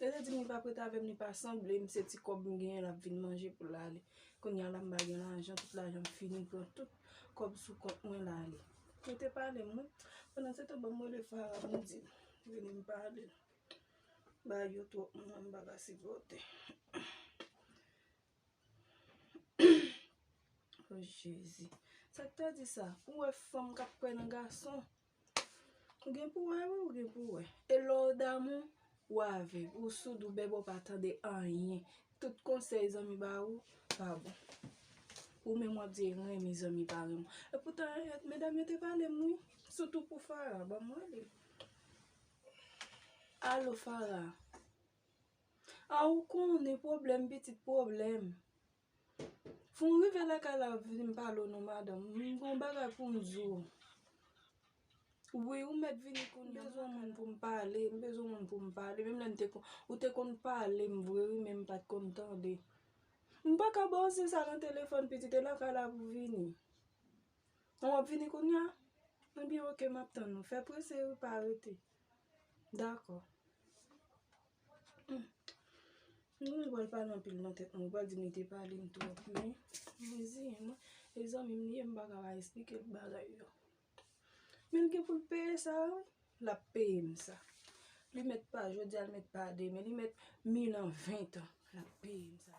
Yo te di m li pap ret avè m, li pa sanble m, se ti kòb m genyen l ap vin manje pou l ale. Kounye a la m pa gen lajan, tout lajan m fini, m pran tout kòb sou kont mwen l ale. Yo te pale m wi. Pandansetan banm rele Fara pou m di l vini m pale l. Bagay yo twòp pou mwen, m pa ka sipòte. O Jezi! Sa k ta di sa? Ou wè fanm k ap kwè nan gason? Ou gen pou wè wi ou gen pou wè. E lè w damou, ou avèg, ou soud, ou bèbè ou pa tande anyen. Tout konsèy zanmi ba ou, pa bon. Ou menm w ap di renmen zanmi pa renmen w. E poutan medam yo te pale m wi. Sitou pou Farah, ban m wè li. Alo Farah, a ou konnen pwoblèm pitit pwoblèm. Foun rive lakay la wap vin pale w non madanm m gon bagay poum di w wi ou mèt vini kounye m bezwen yon moun poum pale m bezwen yon moun poum pale menm lè m te konn ou te konn pale m vre wi men m pat konn tande m paka ba w se sa nan telefòn pitit e lakay la pou vini an wap vini kounya ebyen ok map tann ou fè prese wi pa rete dakò. Mwen wèl pale anpil nan tèt mwen, wèl di mwen te pale m twòp men, mwen di mwen, e zanmi m li ye m pa ka pa esplike l bagay yo. Men l gen pou l peye sa wi, l ap peye m sa. Li mèt pa jodi a, li mèt pa demen, li mèt mil an, ventan, l ap peye m sa.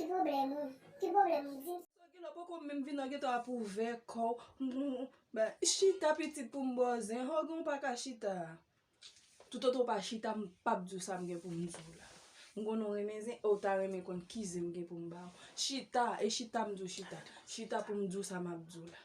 Ki pwoblèm ou? Ki pwoblèm ou dim? Trankil ou poko menm vin nan ghetto a pou w vè kò w Bay chita pitit pou m ba w zen Ho gen w pa ka chita a Toutotan w pa chita m pap di w sa m gen pou m di w la M konnen w renmen zen e w ta renmen konn ki zen m gen pou m ba w Chita e chita m di w chita Chita pou m di w sa map di w la.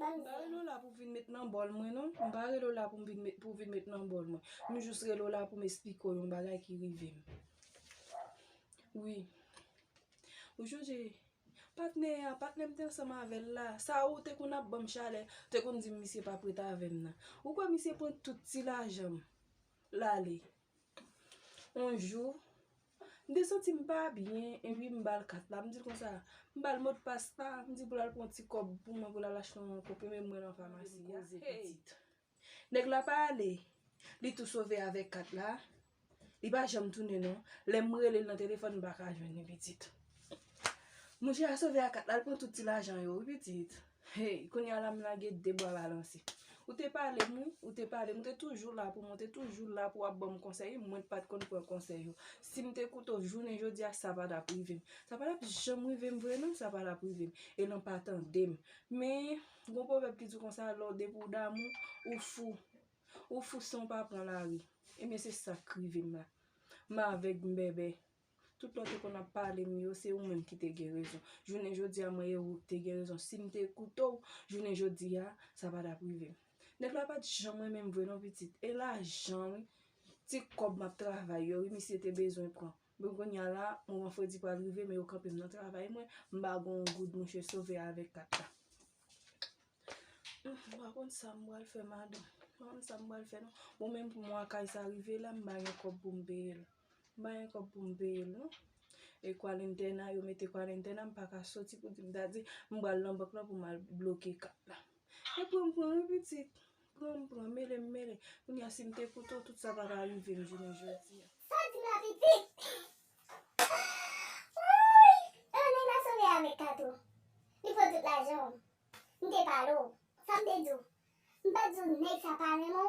M pa rele w la pou w vin met nan bòl mwen non. M pa rele w la pou w vin met nan bòl mwen. M jis rele w la pou m esplike w yon bagay ki rive m. Wi. Ou chonje patnè a, patnè m te ansanm avè l la, sa ou te konn ap ban m chalè, ou te konn di m misye pap ret avè m nan. Ou kwè misye pran tout ti lajan m l ale? On jou, m te santi m pa byen, epi m ba l kat la, m di l konsa, m ba l modpas la, m di pou l al pran yon ti kòb pou mwen pou l al achte yon konprime pou mwen nan famasi a, hey! Nèg la pa ale, li tou sove avèk kat la, li pa janm tounen non, lè m rele l nan telefòn m pa ka jwenn li pitit. Mouche a sove ak kat la, l pran tout ti lajan yo wi pitit. Hey kounya la m lage de bwa balanse. Ou te pale m wi, ou te pale m, ou te toujou la pou mwen, ou te toujou la pou ap ban m konsèy wi, mwen pa t konn pran konsèy ou. Si m te koute w jounen jodi a, sa pa t ap rive m. Sa pa t ap janm rive m vre non, sa pa t ap rive m. E lan pa tande m. Men, gon pwovèb ki di konsa, lè w depi w damou, ou fou. Ou fou san w pa pran lari. Ebyen se sa k rive m la. M avèg, m bèbè. Tout lè w te konn ap pale m yo, se ou menm ki te gen rezon. Jounen jodi a, mwen e ou te gen rezon. Si m te koute w, jounen jodi a, sa pa t ap rive m. Nèg la pa t janm renmen m vre non pitit. E lajan wi, ti kòb m ap travay yo wi misye te bezwen pran. Men kounye a la, moman fredi pral rive men yo kanpe m nan travay mwen, m pa gen yon goud mouche sove avèk kat la. M pa konn sa m pral fè madanm. M pa konn sa m pral fè non. Bon menm pou mwa kay sa rive la, m pa gen kòb pou m peye l. M pa gen kòb pou m peye l non. E kwalentèna, yo mete kwalentèna m pa ka soti pou di m ta di m pral nan bank lan pou m al bloke kat la. Yo pran m pran wi pitit. Pran m pran, mele m mele. Kounye a si m te koute w, tout sa pa ta rive m jounen jodi a. Sa di m la pitit? Wouuyy! E lè nèg la sove a avèk kat ou? Li pran tout lajan w. M te pale w. Sa m te di w? M pa t di w nèg sa pa renmen w?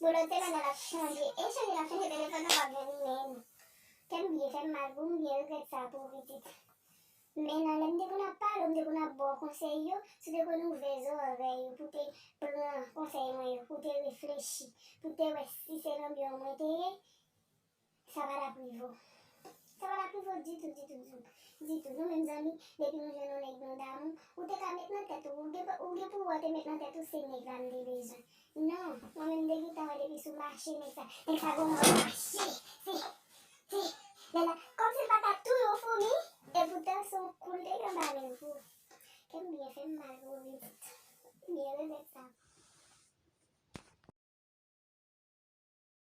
Boulot te lana lap chanje e chanje lap chanje telefon nan pap jwenn menm kèm byen fèm mal pou m byen regrèt sa pou ou pitit men nan lèm te konn ap pale ou m te konn ap baw konsèy yo si w te konn ouvè zòrèy ou pou te pran konsèy mwen yo pou te reflechi pou te wè si se lanbyon mwen te ye Sa pa daprivo. Sa pa daprivo ditou ditou ditou ditou. Nou menm zanmi, depi nou jwenn yon nèg nou damou, ou te ka met nan tèt ou, ou gen pou wè ou te met nan tèt ou se nèg la m te bezwen. Non, mwen menm m te gentan wè depi sou mache nèg sa, nèg sa gon mòd mache, se, se, lè la, kòmsi l pa ka touye yon foumi, epoutan se yon kou l te gen anba men l pou, kè m byen fè m mal pou ou pitit. M byen regrèt sa.